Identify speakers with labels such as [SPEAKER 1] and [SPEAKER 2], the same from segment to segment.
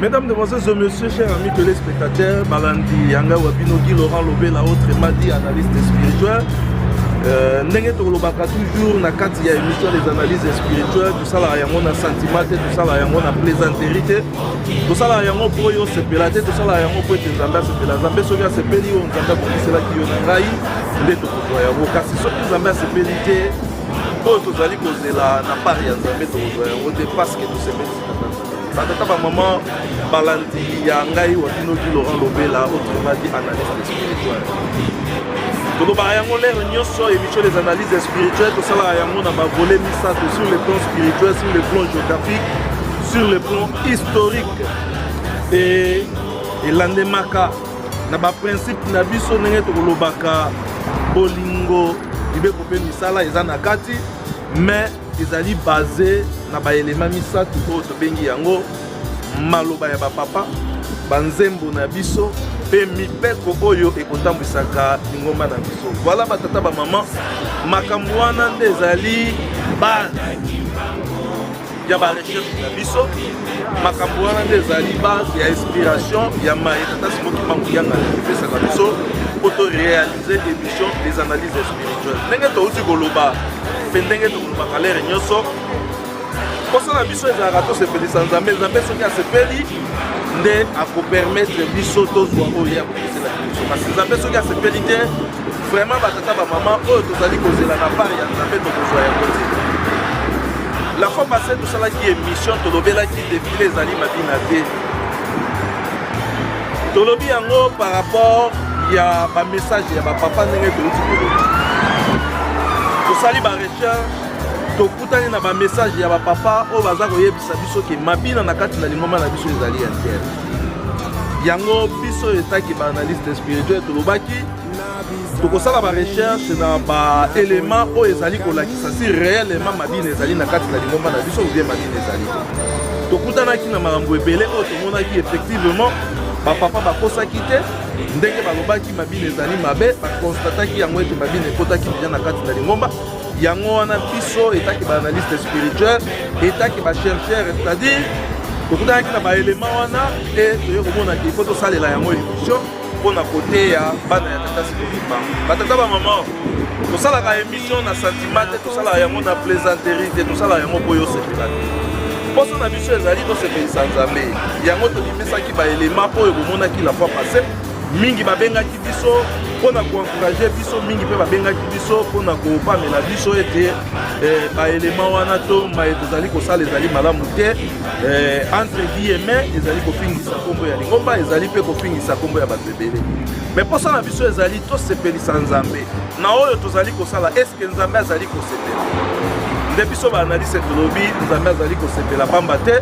[SPEAKER 1] Mesdames, Demoiselles et Messieurs, chers amis téléspectateurs, Balandi, Yanga, Wabino, Guy, Laurent, Lobé, la autre, Madi, analyste spirituel. Euh, ndenge tokolobaka toujours na kati ya émission des analyses spirituelles tosalaka yango na sentiment te tosalaka yango na plaisanterie te tosalaka yango mpo yo osepela te tosalaka yango mpo ete nzambe asepela nzambe soki asepeli yo nzambe akomiselaki yo na ngai nde tokozwa yango kasi soki nzambe asepeli te oyo tozali kozela na part ya nzambe tokozwa yango te parce que tosepeli batata bamama balandi ya ngai watinoki laurent lobela otremadi analyste spirituel tolobaka yango lere nyonso émission des analyses spirituelles tosalaka yango na bavole misato sur le plan spirituel sur le plan géographique sur le plan historique e elandemaka na baprincipe na biso ndenge tokolobaka bolingo mibeko mpe misala eza na kati mais Ezali base na ba elements misato oyo tobengi yango maloba ya ba papa, ba nzembo na biso mpe mibeko oyo ekotambwisaka lingomba na biso. Voilà ba tata ba mama, makambo wana nde ezali base ya ba recherche na biso. Makambo wana nde ezali base ya inspiration ya maye tata Simoki Mbangu Yanga epesaka biso mpo to realiser cette émission des analyses spirituelles ndenge touti koloba mpe ndenge tokolobaka lere nyonso mposa na biso ezalaka tosepelisa nzambe nzambe soki asepeli nde akopermettre biso tozwa oyo ya kokosela biso kasi nzambe soki asepeli te vraiment batata bamama oyo tozali kozela na part ya nzambe tokozwa yango te la fois passé tosalaki émission tolobelaki defile ezali mabina te tolobi yango par rapport ya bamessage ya bapapa ndenge touti koloba tosali barecherche tokutani na bamessage ya bapapa oyo baza koyebisa biso ke mabina na kati na lingomba na biso ezali ya ntere yango biso etaki baanalyste spirituel tolobaki tokosala ba recherche na ba element oyo ezali kolakisa si réellement mabina ezali na kati na lingomba na biso obie mabina ezali tokutanaki na makambo ebele oyo tomonaki effectivement bapapa bakosaki te ndenge balobaki mabina ezali mabe bakonstataki yango ete mabina ekotaki deja na kati na lingomba yango wana biso etaki baanalyste spirituel etaki bachercheur c'est-à-dire tokutanaki na baelema wana e toye komona ke ifo tosalela yango illusion mpo na koteya bana ya tata sikolimba batata bamama tosalaka émission na sentiment te tosalaka yango na plaisanterie te tosalaka yango mpo yosepela te mposo na biso ezali tosepelisa nzambe yango tobimisaki baelema oyo bomonaki la fois passé mingi babengaki biso mpo na koencourage biso mingi mpe babengaki biso mpo na kopamela biso ete eh, baelema wana to maye tozali kosala ezali malamu te Eh, entre vie et mai ezali kofingisa nkombo ya lingomba ezali mpe kofingisa nkombo ya bato ebele me mposa na biso ezali tosepelisa nzambe na oyo tozali kosala eske nzambe azali kosepela nde biso baanalise tolobi nzambe azali kosepela pamba te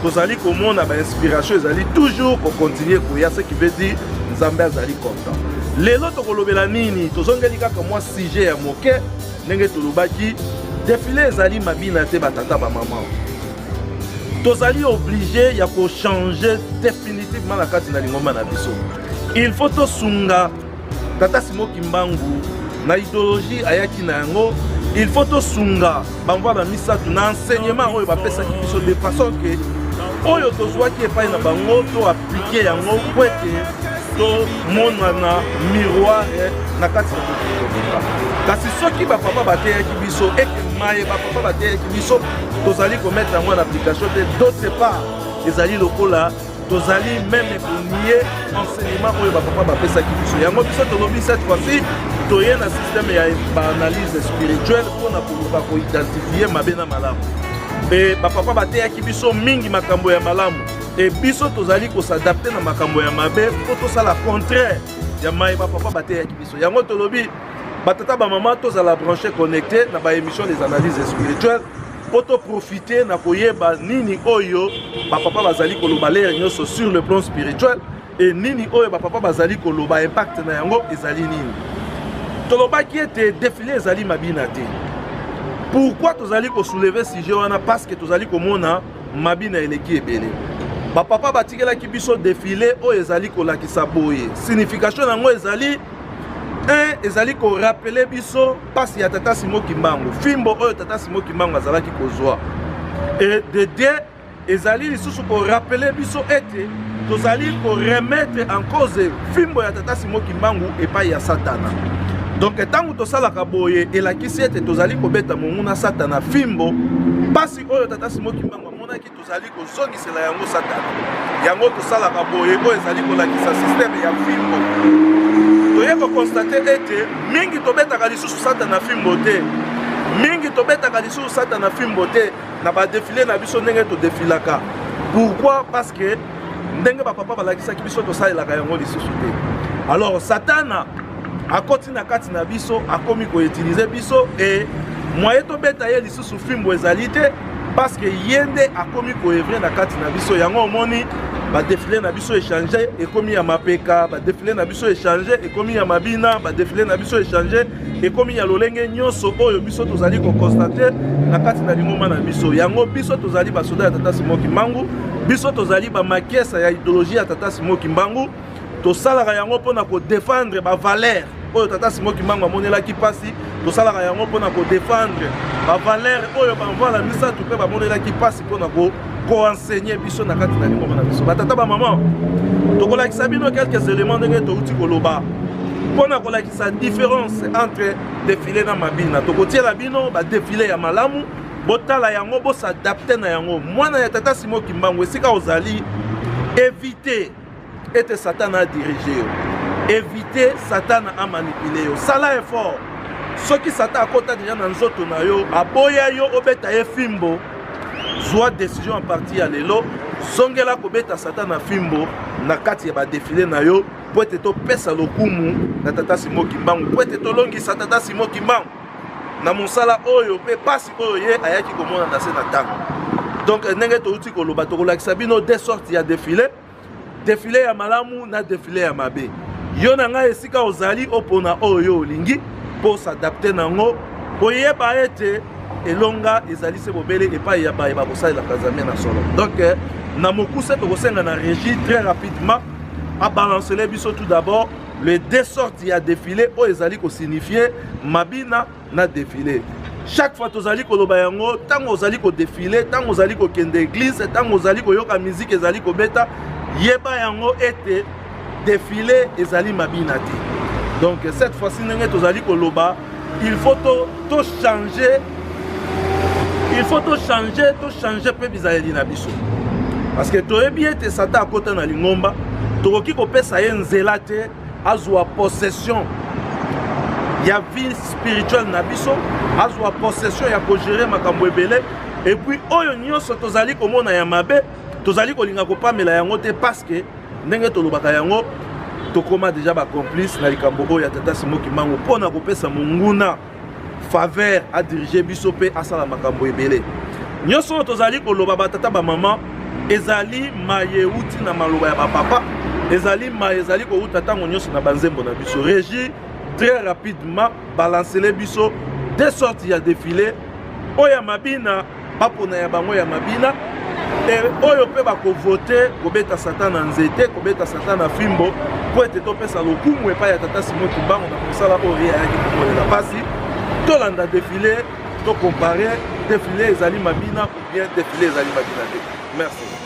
[SPEAKER 1] tozali komona bainspiration ezali toujours kokontinue koya ce qui veut dire nzambe azali content lelo tokolobela nini tozongeli kaka mwa sujet ya moke ndenge tolobaki defile ezali mabina te batata bamama tozali oblige ya kochange definitivement na kati na lingomba na biso il faut tosunga tata simo kimbangu na ideologie ayaki na yango il faut tosunga bamvwala misato na enseignement oyo bapesaki biso de façon ke oyo tozwaki epai na bango to aplike yango po ete tomonana miroir na kati ya kasi soki bapapa bateyaki biso ete maye bapapa bateyaki biso tozali komettre yango na application te d'autre part ezali lokola tozali meme konie enseignement oyo bapapa bapesaki biso yango biso tolobi cette fois-ci toye na système ya baanalyse spirituelle mpo na koluka koidentifie mabe na malamu mpe bapapa bateyaki biso mingi makambo ya malamu e biso tozali kosadapte na makambo ya mabe mpo tosala contraire ya maye bapapa bateyaki biso yango tolobi batata bamama tozala branche connecte na baémission des analyses spirituelles mpo toprofite na koyeba nini oyo bapapa bazali koloba lere nyonso sur le plan spirituel e nini oyo bapapa bazali koloba impact na yango ezali nini tolobaki ete defile ezali mabina te pourkui tozali kosouleve sujet wana parce que tozali komona mabina eleki ebele bapapa batikelaki biso defile oyo ezali kolakisa boye signification na yango ezali e ezali korapele biso mpasi ya tata simo kimbangu fimbo oyo tata simo kimbangu azalaki kozwa e dedie ezali lisusu korapele biso ete tozali koremetre en cause fimbo ya tata simo kimbangu epai ya satana donk ntango tosalaka boye elakisi ete tozali kobeta monguna satana fimbo mpasi oyo tata simo kimbangu amonaki tozali kozongisela yango satana yango tosalaka boye oyo ezali kolakisa systeme ya fimbo toye kokonstate ete mingi tobetaka lisusu satana fimbo te mingi tobetaka lisusu satana fimbo te na badefile na biso ndenge todefilaka pourquoi parce que ndenge bapapa balakisaki biso tosalelaka yango lisusu te alors satana akoti na kati na biso akomi koutilize biso e mwaye tobeta ye lisusu fimbo ezali te parce que ye nde akomi koevre na kati na biso yango omoni badefile na biso echange ekomi ya mapeka badefile na biso echange ekomi ya mabina badefile na biso echange ekomi ya lolenge nyonso oyo biso tozali kokonstate na kati na lingomba na biso yango biso tozali basoda ya tata simo kimbangu biso tozali bamakesa ya ideologie ya tata simo kimbangu tosalaka yango mpo na kodefendre bavalere oyo tata simo kimbangu amonelaki mpasi tosalaka yango mpo na kodefendre bavalere oyo bamvana misato mpe bamonelaki mpasi mpo na koensegne biso na kati na lingomba na biso batata bamama tokolakisa bino quelques éléments ndenge touti koloba mpo na kolakisa différence entre defile na mabina tokotiela bino badefile ya malamu botala yango bosadapte na yango mwana ya tata simo kimbangu esika ozali evite ete satana adirige yo evite satana amanipule yo sala effort soki satana akota deja na nzoto na yo aboya yo obeta ye fimbo zwa décision ya parti ya lelo zongela kobeta satana fimbo na kati ya badefile na yo mpo ete topesa lokumu na tata simo kimbangu mpo ete tolongisa tata simo kimbangu na mosala oyo mpe mpasi oyo ye ayaki komona na se na ntango donc ndenge touti koloba tokolakisa bino de sorte ya defile defile ya malamu na defile ya mabe yo na ngai esika ozali opona oyo yo olingi mpo osadapte na yango koyeba ete elonga ezali se bobele epai ya baye bakosalelaka nzambe na solo donk eh, na mokuse tokosenga na régie très rapidement abalancele biso tout d'abord le deux sortes ya défilé oyo ezali kosignifie mabina na defile chaque fois tozali koloba yango ntango ozali kodefile ntango ozali kokende eglize ntango ozali koyoka miziki ezali kobeta yeba yango ete defile ezali mabina te donc cette fois-ci ndenge tozali koloba il faut tochange il faut tochange tochange mpe bizaleli na biso parce que toyebi ete satan akota na lingomba tokoki kopesa ye nzela te azwa possession ya vie spirituelle na biso azwa possession ya kogere makambo ebele epuis oyo nyonso tozali komona ya mabe tozali kolinga kopamela yango te parceke ndenge tolobaka yango tokóma deja bacomplice na likambo oyo ya tata simoki mango mpo na kopesa monguna faveur a diriger biso pe asala makambo ebele nyonso oyo tozali koloba batata bamama ezali maye euti na maloba ya bapapa ezali maye ezali kouta ntango nyonso na banzembo na biso regi très rapidement balancele biso de sorte ya defile oyo ya mabina bapona ya bango ya mabina e oyo mpe bakovote kobeta satan na nzete kobeta satan na fimbo mpo ete topesa lokumu epai ya tata simo kimbangu na mosala oyo ye ayaki kokolela mpasi tolanda defile tokompare defile ezali mabina ou bien defile ezali mabina te merci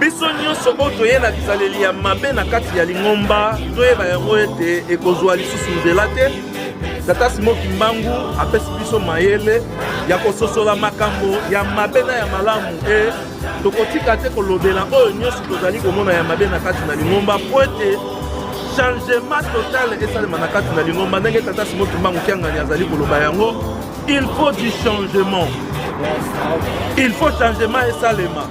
[SPEAKER 1] biso nyonso oyo toye na bizaleli ya mabe na kati ya lingomba toyeba yango ete ekozwa lisusu nzela te tata simo kimbangu apesi biso mayele ya kososola makambo ya mabe na ya malamu e tokotika te kolobela oyo nyonso tozali komona ya mabe na kati na lingomba mpo ete changement total esalema na kati na lingomba ndenge tata simo kimbangu kiangani azali koloba yango Il faut du changement. Il faut changement et salema.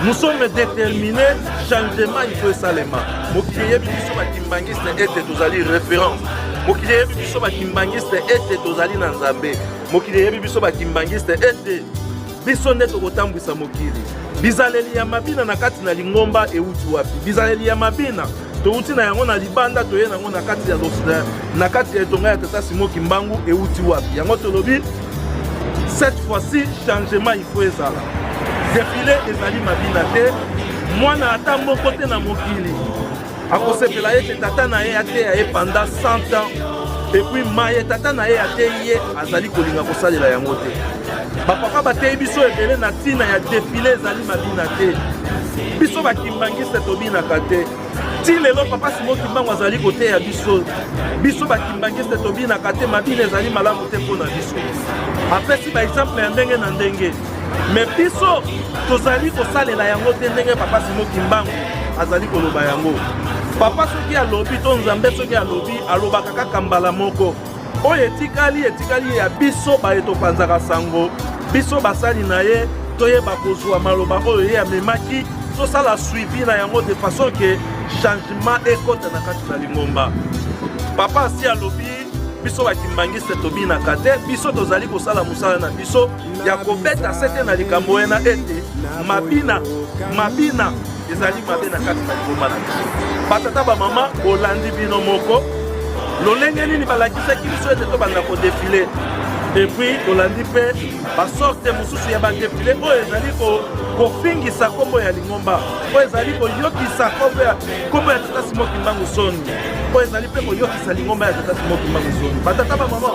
[SPEAKER 1] Nous sommes déterminés, changement il faut salema. Mokili yebi biso ba kimbanguiste ete tozali référence. Mokili yebi biso ba kimbanguiste ete tozali na Nzambe. Mokili yebi biso ba kimbanguiste ete Biso nde tokotambwisa mokili. Bizaleli ya mabina na kati na lingomba euti wapi? Bizaleli ya mabina touti na yango na libanda toye na yango na kati ya losda na kati ya etonga ya tata simo kimbangu euti wapi yango tolobi cette fois-ci changement il faut ezala defile ezali mabina te mwana ata moko te na mokili akosepela ete tata na ye ateya ye panda 100 ans epuis maye tata na ye ateyi ye azali kolinga kosalela yango te bapapa bateyi biso ebele na ntina ya defile ezali mabina te biso bakimbangiste tobinaka te ti lelo papa simo kimbangu azali koteya biso biso bakimbangiste tobinaka te mabina ezali malamu te mpo na biso apesi baexemple ya ndenge na ndenge me biso tozali kosalela yango te ndenge papa simo kimbangu azali koloba yango papa soki alobi to nzambe soki alobi alobaka kaka mbala moko oyo etikali etikali ya biso baye topanzaka sango biso basali na ye toyeba kozwa maloba oyo ye amemaki tosala suivi na yango de façon ke changement ekota na kati na lingomba papa asi alobi biso bakimbangiste tobinaka te biso tozali kosala mosala na biso ya kobeta sete na likambo ena ete mabina mabina ezali mabe na kati na liboma na biso batata bamama bolandi bino moko lolenge nini balakisaki biso ete tobanda kodefile epuis tolandi mpe basorte mosusu ya badefile oyo ezali kofingisa nkombo ya lingomba oyo ezali koyokisa nkombo ya tata simo kimbangu soni oyo ezali mpe koyokisa lingomba ya tata simo kimbangu soni batata bamama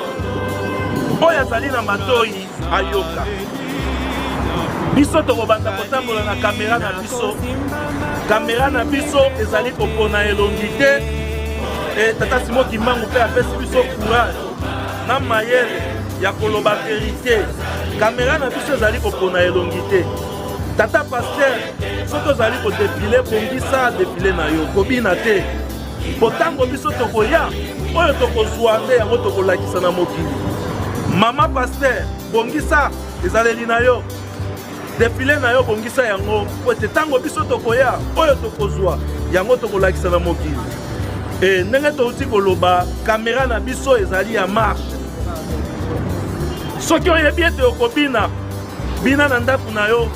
[SPEAKER 1] oyo azali na matoi ayoka biso tokobanda kotambola na kamera na biso kamera na biso ezali kopona elongi te e, tata simo kimbangu mpe apesi biso courage na mayele ya koloba verite kamera na biso ezali kopona elongi te tata paster soki ozali kodefile bongisa defile na yo kobina te Mpo ntango biso tokoya, oyo tokozwa nde yango tokolakisa na mokili. Mama Pasteur, bongisa ezaleli na yo defile na yo bongisa yango mpo ete ntango biso tokoya oyo tokozwa yango tokolakisa na mokili e ndenge touti koloba kamera na biso ezali ya marche soki oyebi ete okobina bina na ndako na yo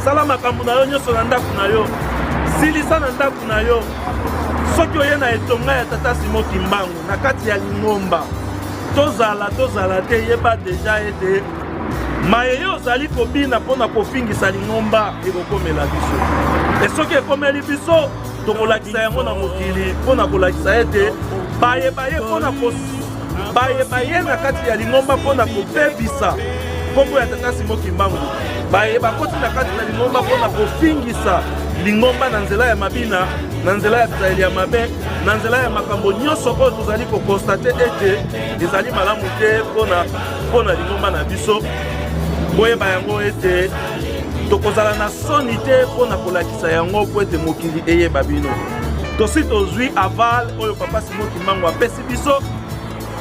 [SPEAKER 1] sala makambo na yo nyonso na ndako na yo silisa na ndako na yo soki oye na etonga ya tata simo kimbangu na kati ya lingomba tozala tozala te yeba deja ete maye yo ozali kobina mpo na kofingisa lingomba ekokomela biso e soki ekomeli biso tokolakisa yango na mokili mpo na kolakisa ete baye baye mpo na baye baye na kati ya lingomba mpo na kobebisa nkombo ya tata simo kimbangu baye bakoti na kati na lingomba mpo na kofingisa lingomba na nzela ya mabina na nzela ya bizaleli ya mabe na nzela ya makambo nyonso oyo tozali kokonstate ete ezali malamu te mpo na lingomba na biso boyeba yango ete tokozala na soni te mpo na kolakisa yango mpo ete mokili eyeba bino tosi tozwi aval oyo papa simo kimbangu apesi biso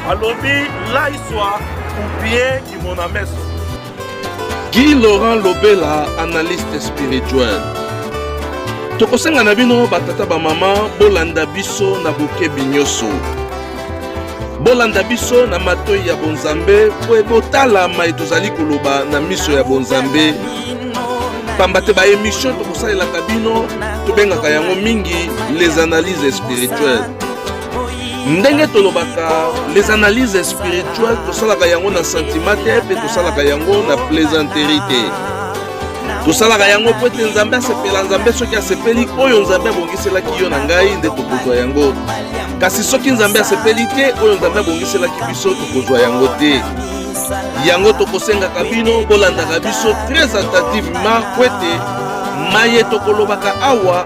[SPEAKER 1] alobi laiswa upie kimona meso
[SPEAKER 2] guy laurent lobela analyste spirituel tokosenga na bino batata bamama bolanda biso na bokebi nyonso bolanda biso na matoi ya bonzambe mpo ebotala mai tozali koloba na miso ya bonzambe pamba te baemission tokosalelaka bino tobengaka yango mingi les analyses spirituelles ndenge tolobaka les analyses spirituelles tosalaka yango na sentiment te mpe tosalaka yango na plaisanterie te tosalaka yango mpo ete nzambe asepela nzambe soki asepeli oyo nzambe abongiselaki yo na ngai nde tokozwa yango kasi soki nzambe asepeli te oyo nzambe abongiselaki biso tokozwa yango te yango tokosengaka bino bolandaka biso très attentivement mpo ete maye tokolobaka awa